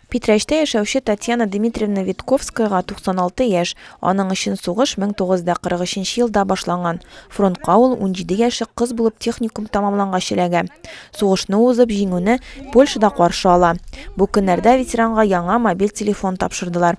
Питрәчтә яшәүче Татьяна Дмитриевна Витковскаяга 96 яшь, аның өчен сугыш 1943 елда башланган. Фронтка ул унҗиде яшьлек кыз булып техникум тәмамлангач эләгә. Сугышны узып, Җиңүне Польшада каршы ала. Бу көннәрдә ветеранга яңа мобиль телефон тапшырдылар.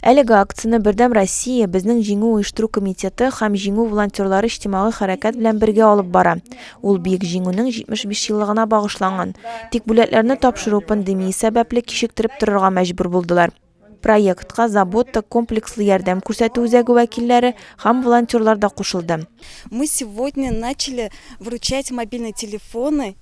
Әлеге акцияне Бердәм Россия, безнең Җиңү оештыру комитеты һәм Җиңү волонтерлары иҗтимагый хәрәкәт белән бергә алып бара. Ул Бөек Җиңүнең 75 еллыгына багышланган. Тик бүләкләрне тапшыру пандемия сәбәпле кичектереп торырга мәҗбүр булдылар. Проектка Забота комплекслы ярдәм күрсәтү үзәге вәкилләре һәм волонтерлар да кушылды. Мы сегодня начали вручать мобильные телефоны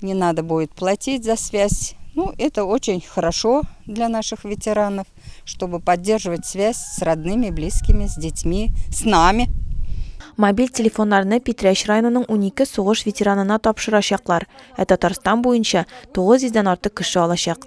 Не надо будет платить за связь. Ну, это очень хорошо для наших ветеранов, чтобы поддерживать связь с родными, близкими, с детьми, с нами. Мобиль телефоннарны Питрәч районының 12 сугыш ветеранына тапшырачаклар, ә Татарстан буенча 900 дән артык кеше алачак.